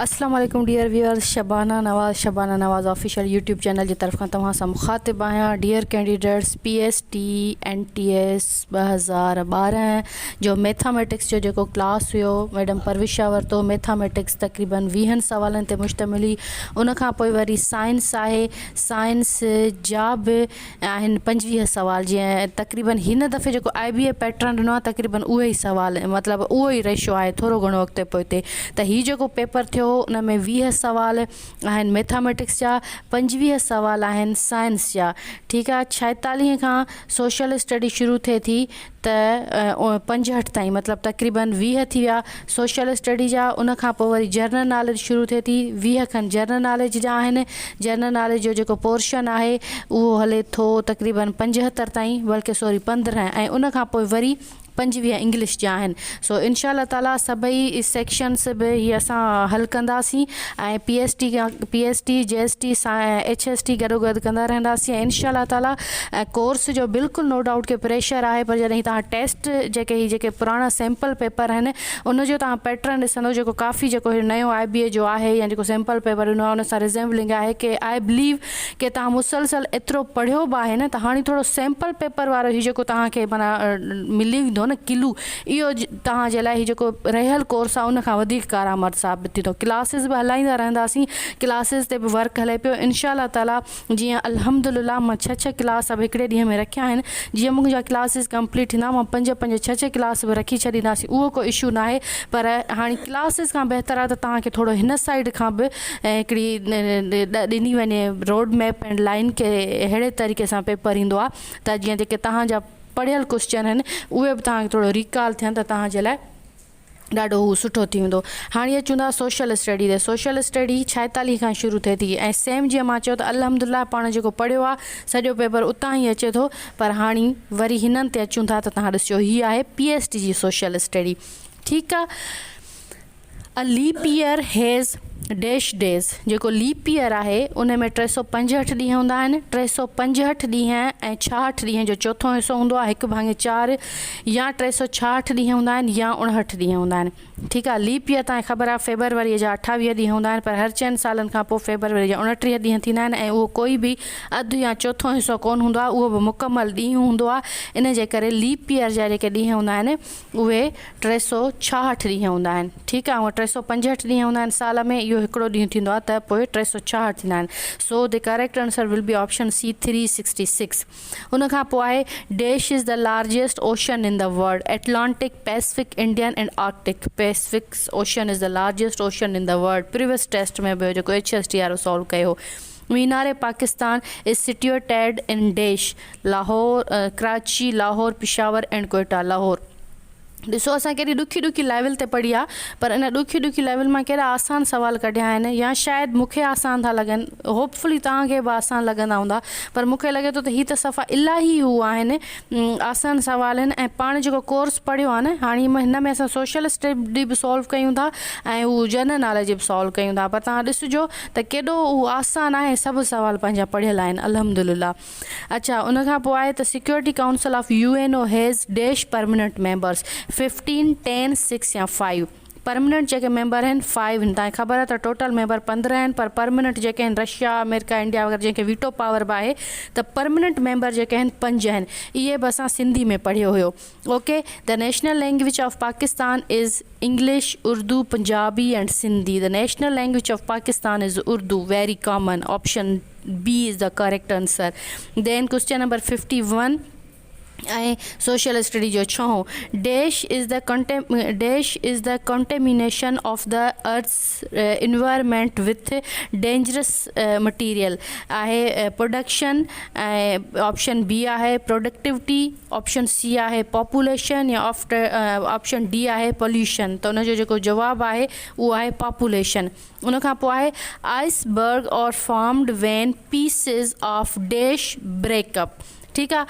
اسلام عليڪم dear viewers Shabana Nawaz Shabana Nawaz official YouTube channel جي طرفان توهان سان مخاطب آهيان dear candidates P S T N T S ٻه هزار ٻارهن جو ميٿاميٽڪس جو جيڪو ڪلاس هيو ميڊم پروشا ورتو ميٿاميٽڪس تقريبن ويهن سوالن تي مشتمل هئي ان کان پوء وري سائنس آهي سائنس جا به آهن پنجويهه سوال جيئن تقريبن هن دفعي جيڪو آئي بي اي پيٽرن ڏنو آهي تقريبن اهي ئي سوال مطلب اهو ئي ريشو آهي ٿورو گهڻو اڳتي پوئتي ته هي جيڪو پيپر ٿيو هو ان ۾ ويهه سوال آهن ميٿاميٽڪس جا پنجويهه سوال آهن سائنس جا ٺيڪ آهي ڇائيتاليهه کان سوشل اسٽڊي شروع ٿئي ٿي ته پنجهٺ تائين مطلب تقريباً ويهه ٿي ويا سوشل اسٽڊي جا ان کان پوء وري جنرل ناليج شروع ٿئي ٿي ويهه کن جنرل ناليج جا آهن جنرل ناليج جو جيڪو پورشن آهي اهو هلي ٿو تقريباً پنجهتر تائين بلڪه سوري پندرهن ۽ ان کان پوء وري پنجويهه انگلش جا آهن سو انشاء الله تعالي سڀئي سيڪشنز به هي اسان حل ڪنداسين ۽ P S T P S T G S T H S T گڏوگڏ ڪندا رهنداسين ۽ انشاء الله تعالي ڪورس جو بلڪل نو ڊائوٽ ڪي پريشر آهي پر جڏهن توهان ٽيسٽ جيڪي هي جيڪي پراڻا سيمپل پيپر آهن ان جو توهان پيٽرن ڏسندو جيڪو ڪافي جيڪو هي نيو آء بي اي جو آهي يا جيڪو سيمپل پيپر ڏنو آهي ان سان ريزيمبلنگ آهي ڪي آء بليو ڪي توهان مسلسل ايترو پڙهيو به آهي نه ته هاڻي ٿورو سيمپل پيپر وارو هي جيڪو توهان کي معنيٰ ملي ويندو نه ڪلو اهو توهان جي لاء هي جيڪو رهيل ڪورس آهي ان کان وڌيڪ ڪارآمد ثابت ٿيندو ڪلاسز به هلائيندا رهنداسين ڪلاسز تي به ورڪ هلي پيو انشاء الله تعالي جيئن الحمدلله مان ڇهه ڇهه ڪلاس به هڪڙي ڏينهن ۾ رکيا آهن جيئن منهنجا ڪلاسز ڪمپليٽ ٿيندا مان پنج پنج ڇهه ڇهه ڪلاس به رکي ڇڏينداسين اهو ڪو اشو نه آهي پر هاڻي ڪلاسز کان بهتر آهي ته توهان کي ٿورو هن سائيڊ کان به هڪڙي ڏني وڃي روڊ ميپ ۽ لائن ڪهڙي طريقي سان پيپر ايندو آهي ته جيئن جيڪي توهان جا پڙهيل ڪوسچن هن اهي به توهان کي ٿورو ريڪال ٿين ته توهان جي لاء ڏاڍو هو سٺو ٿي ويندو هاڻي اچون ٿا سوشل اسٽڊي تي سوشل اسٽڊي ڇائيتاليهه کان شروع ٿئي ٿي ۽ سيم جيئن مان چيو ته الحمدلله پاڻ جيڪو پڙهيو آهي سڄو پيپر اتان ئي اچي ٿو پر هاڻي وري هنن تي اچون ٿا ته توهان ڏسجو هي آهي پي ايس ٽي جي سوشل اسٽڊي ٺيڪ آهي A leap year has dash days جيڪو ليپ ييئر آهي ان ۾ ٽي سؤ پنجهٺ ڏينهن هوندا آهن. ٽي سؤ پنجهٺ ڏينهن ۽ ڇاهٺ ڏينهن جو چوٿون حصو هوندو آهي هڪ ڀاڱي چار يا ٽي سؤ ڇاهٺ ڏينهن هوندا آهن يا اڻهٺ ڏينهن هوندا آهن ٺيڪ آهي ليپ ييئر توهان کي خبر آهي فيبروري جا اٺاويهه ڏينهن هوندا آهن پر هر چئن سالن کان پوء فيبروري جا اڻٽيهه ڏينهن ٿيندا آهن ۽ اهو ڪوئي به اڌ يا چوٿون حصو ڪون هوندو آهي اهو به مڪمل ڏينهن هوندو آهي ان جي ڪري ليپ ييئر جا جيڪي ڏينهن هوندا آهن اهي ٽي سؤ ڇاهٺ ڏينهن هوندا آهن ٺيڪ آهي هونئن ٽي سؤ پنجهٺ ڏينهن هوندا آهن سال ۾ اهو هڪڙو ڏينهن ٿيندو آهي ته پوء ٽي سؤ ڇاهٺ ٿيندا آهن so the correct answer will be option C three sixty six ان کان پوء آهي dash is the largest ocean in the world Atlantic Pacific Indian and Arctic Pacific ocean is the largest ocean in the world previous test ۾ به هو جيڪو H S T وارو solve ڪيو هو Minar Pakistan is situated in dash Lahore Karachi Lahore Peshawar and Quetta Lahore ڏسو اسان ڪيڏي ڏکي ڏکي ليول تي پڙهي آ پر ان ڏکي ڏکي ليول مان ڪيڏا آسان سوال ڪڍيا آهن يا شايد مونکي آسان ٿا لڳن هوپ فلي توهان کي به آسان لڳندا هوندا پر مونکي لڳي ٿو ته هي ته صفا الاهي هو آهن آسان سوال آهن ۽ پاڻ جيڪو ڪورس پڙهيو آهي نه هاڻي هن ۾ اسان سوشل اسٽڊي به سالو ڪيون ٿا ۽ هو جنرل ناليج به سالو ڪيون ٿا پر تهان ڏسجو ته ڪيڏو هو آسان آهي سڀ سوال پنهنجا پڙهيل آهن الحمدلله اڇا ان کان پوء آهي ته security council of U N O has dash permanent members fifteen ten six يا فائيو پرمننٽ جيڪي ميمبر آهن فائيو آهن تانکي خبر آهي ته ٽوٽل ميمبر پندرهن آهن پر پرمننٽ جيڪي آهن رشيا آمريڪا انڊيا وغيره جنهن کي ويٽو پاور به آهي ته پرمننٽ ميمبر جيڪي آهن پنج آهن اهي به اسان سنڌي ۾ پڙهيو هيو okay The National Language of Pakistan is English Urdu Punjabi and Sindhi The National Language of Pakistan is Urdu Very Common option B is the correct answer then question number fifty one ۽ social study جو ڇهون dash is the dash is the contamination of the earth's environment with dangerous material آهي production ۽ option B آهي productivity option C آهي population يا after option D آهي pollution ته ان جو جيڪو جواب آهي اهو آهي پاپوليشن ان کان پوء آهي iceberg are formed when pieces of dash break up ٺيڪ آ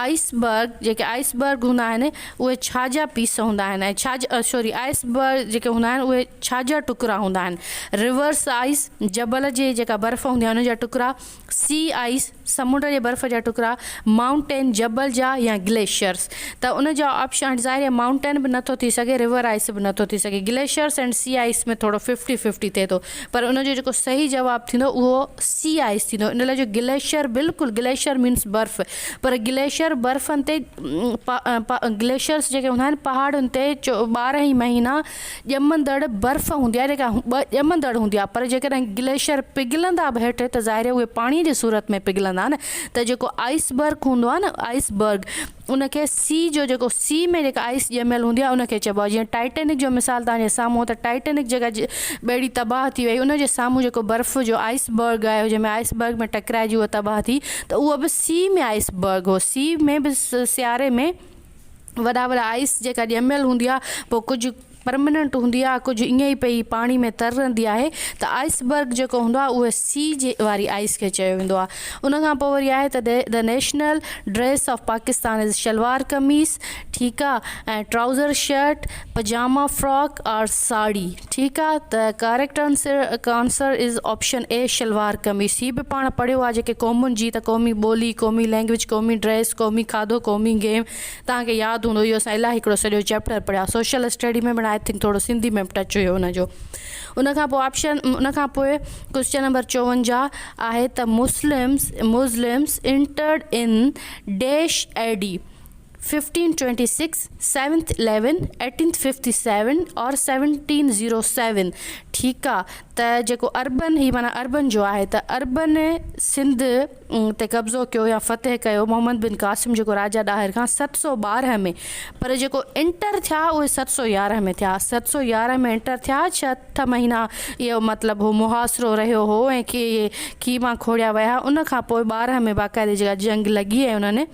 آئس برگ جيڪي آئس برگ هوندا آهن اهي ڇا جا پيس هوندا آهن ۽ ڇا جا سوري آئس برگ جيڪي هوندا آهن اهي ڇا جا ٽڪرا هوندا آهن ريورس آئس جبل جي جيڪا برف هوندي آهي ان جا ٽڪرا سي آئس سمنڊ جي برف جا ٽڪرا مائونٽين جبل جا يا گليشرس ته ان جا آپشن ظاهر آهي مائونٽين به نٿو ٿي سگهي ريور آئس به نٿو ٿي سگهي گليشرس ۽ سي آئس ۾ ٿورو ففٽي ففٽي ٿئي ٿو پر ان جو جيڪو صحيح جواب ٿيندو اهو سي آئس ٿيندو ان لاء جو گليشر بلڪل گليشر مينس برف پر گليشر برفن تي گليشرس جيڪي هوندا آهن پهاڙن تي ٻارهن ئي مهينا ڄمندڙ برف هوندي آهي جيڪا ڄمندڙ هوندي آهي پر جيڪڏهن گليشر پگهلندا به هيٺ ته ظاهر آهي اهي پاڻي جي صورت ۾ پگهلندا نه ته جيڪو آئس برف هوندو آهي نه آئس برف ان کي سي جو جيڪو سي ۾ جيڪا آئس ڄميل هوندي آهي ان کي چئبو آهي جيئن ٽائٽينڪ جو مثال توهان جي سامهون ته ٽائٽينڪ جيڪا ٻيڙي تباهه ٿي وئي ان جي سامهون جيڪو برف جو آئس برگ آهي جنهن ۾ آئس برگ ۾ ٽڪرائجي اهو تباهه ٿي ته اهو به سي ۾ آئس برگ هو سي ۾ به سياري ۾ وڏا وڏا آئس جيڪا ڄميل هوندي آهي پوء ڪجهه پرمننٽ هوندي آهي ڪجهه ائين ئي پئي پاڻي ۾ تر رهندي آهي ته آئس برگ جيڪو هوندو آهي اهي سي جي واري آئس کي چيو ويندو آهي ان کان پوء وري آهي ته the national dress of Pakistan is shalwar kameez ٺيڪ آهي ۽ trouser shirt pajama frock or sari ٺيڪ آهي ته correct answer answer is option A shalwar kameez هي به پاڻ پڙهيو آهي جيڪي قومن جي ته قومي ٻولي قومي لينگويج قومي ڊريس قومي کاڌو قومي گيم توهان کي ياد هوندو اهو اسان الائي هڪڙو سڄو چيپٽر پڙهيا سوشل اسٽڊي ۾ پڻ آء ٿنڪ ٿورو سنڌي ۾ به ٽچ هيو ان جو ان کان پوء آپشن ان کان پوء ڪوسچن نمبر چوونجاهه آهي ته Muslims Muslims entered in dash A D fifteen twenty six seventh eleven eighteenth fifty seven or seventeen zero seven ٺيڪ آ ته جيڪو اربن هي معنيٰ اربن جو آهي ته اربن سنڌ تي قبضو ڪيو يا فتح ڪيو محمد بن قاسم جيڪو راجا ڏاهر کان ست سؤ ٻارهن ۾ پر جيڪو انٽر ٿيا اهي ست سؤ يارهن ۾ ٿيا ست سؤ يارهن ۾ انٽر ٿيا ڇهه مهينا اهو مطلب هو محاصرو رهيو هو ۽ کي کي مان کوڙيا ويا ان کان پوء ٻارهن ۾ باقاعدي جيڪا جنگ لڳي ۽ انهن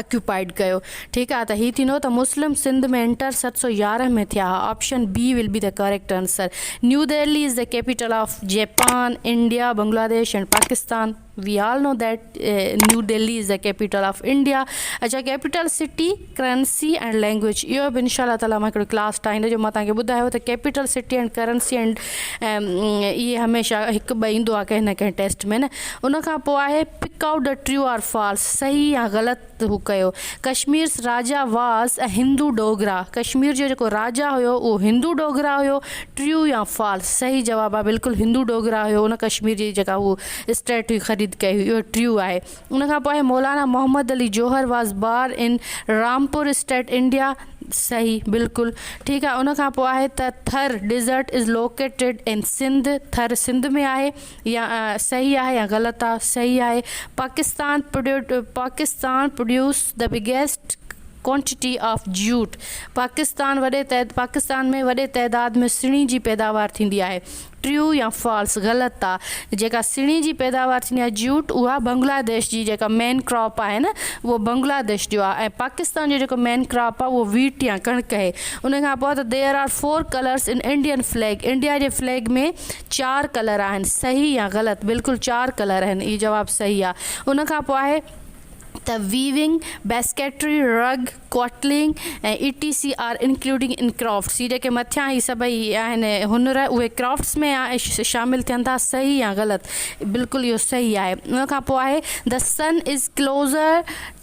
اڪيوپائيڊ ڪيو ٺيڪ آ ته هي ٿيندو ته مسلم سنڌ ۾ انٽر ست سؤ يارهن ۾ ٿيا ها آپشن بي ول بي ته correct answer New Delhi is the capital of Japan India Bangladesh and Pakistan we all know that New Delhi is the capital of India اچا capital city currency and language اهو به انشاء الله تعالي مان هڪڙو ڪلاس ٺاهيندو جو مان تهانکي ٻڌايو ته capital city and currency and اهي هميشه هڪ ٻه ايندو آ ڪنهن نه ڪنهن ٽيسٽ ۾ نه ان کان پوء آهي pick out the true or false صحيح يا غلط هو ڪيو ڪشميرس راجا واز اي هندو ڊوگرا ڪشمير جو جيڪو راجا هيو اهو هندو ڊوگرا هيو ٽريو يا فالس صحيح جواب آهي بلڪل هندو ڊوگرا هيو ان ڪشمير جي جيڪا هو اسٽيٽ هئي خريد ڪئي هئي اهو ٽريو آهي ان کان پوء آهي Maulana Muhammad Ali Jauhar was born in Rampur state India صحيح بلڪل ٺيڪ آهي ان کان پوء آهي ته Thar desert is located in Sindh Thar Sindh ۾ آهي يا صحيح آهي يا غلط آ صحيح آهي Pakistan Pakistan produce the biggest quantity of jute Pakistan وڏي پاڪستان ۾ وڏي تعداد ۾ سڻي جي پيداوار ٿيندي آهي ٽريو يا فالس غلط آ جيڪا سڻي جي پيداوار ٿيندي آهي جيوٽ اها بنگلاديش جي جيڪا مين ڪراپ آهي نه اهو بنگلاديش جو آ ۽ پاڪستان جو جيڪو مين ڪراپ آ اهو ويٽ يا ڪڻڪ اهي ان کان پوء ته there are four colours in Indian flag India جي فليگ ۾ چار ڪلر آهن صحيح يا غلط؟ بلڪل چار ڪلر آهن اهو جواب صحيح آ ان کان پوء آهي ته weaving, basketry, rug, quilting ۽ A T C R including in crafts هي جيڪي مٿيان هي سڀئي آهن هنر اهي ڪرافٽس ۾ شامل ٿين ٿا صحيح يا غلط؟ بلڪل اهو صحيح آهي ان کان پوء آهي The sun is closer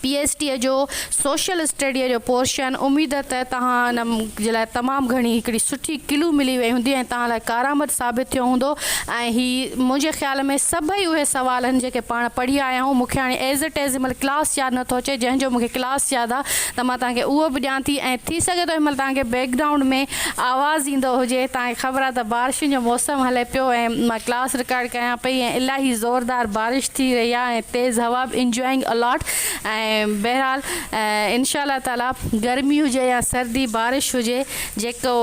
P H D جو سوشل اسٽڊيء جو پورشن اميد ته توهان ان جي لاء تمام گهڻي هڪڙي سٺي ڪلو ملي وئي هوندي ۽ توهان لاء ڪارآمد ثابت ٿيو هوندو ۽ هي منهنجي خيال ۾ سڀئي اهي سوال آهن جيڪي پاڻ پڙهي آيا آهيون مونکي هاڻي ايزٽيزمل ڪلاس ياد نٿو اچي جنهن جو مونکي ڪلاس ياد آهي ته مان توهان کي اهو به ڏيان ٿي ۽ ٿي سگهي ٿو هن مهل توهان کي بيڪ گرائونڊ ۾ آواز ايندو هجي توهان کي خبر آهي ته بارشن جو موسم هلي پيو ۽ مان ڪلاس رڪارڊ ڪريان پئي ۽ الاهي زوردار بارش ٿي رهي آهي ۽ تيز هوا به انجوائنگ ا لاٽ ۽ بهرحال انشاء الله تعالي گرمي هجي يا سردي بارش هجي جيڪو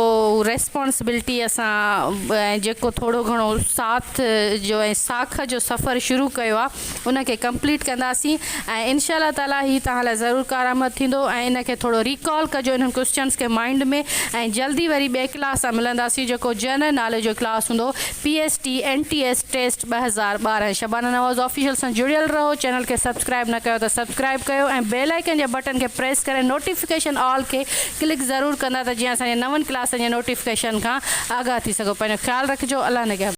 ريسپانسبلٽي اسان ۽ جيڪو ٿورو گهڻو ساٿ جو ۽ ساک جو سفر شروع ڪيو آهي ان کي ڪمپليٽ ڪنداسين ۽ انشاء الله تعالي هي توهان لاء ضرور ڪارآمد ٿيندو ۽ ان کي ٿورو ريڪال ڪجو انهن ڪوسچنس کي مائنڊ ۾ ۽ جلدي وري ٻئي ڪلاس سان ملنداسين جيڪو جنرل ناليج جو ڪلاس هوندو P S T N T S test August ٻه هزار ٻارهن شبانه نواز آفيشل سان جڙيل رهو چينل کي سبسڪرائب نه ڪيو ته سبسڪرائب ڪيو ۽ بيل آئيڪن جي بٽن کي پريس ڪري نوٽيفڪيشن آل کي ڪلڪ ضرور ڪندا ته جيئن اسان جي نون ڪلاسن جي نوٽيفڪيشن کان آگاهه ٿي سگهو پنهنجو خيال رکجو الله نگهبان.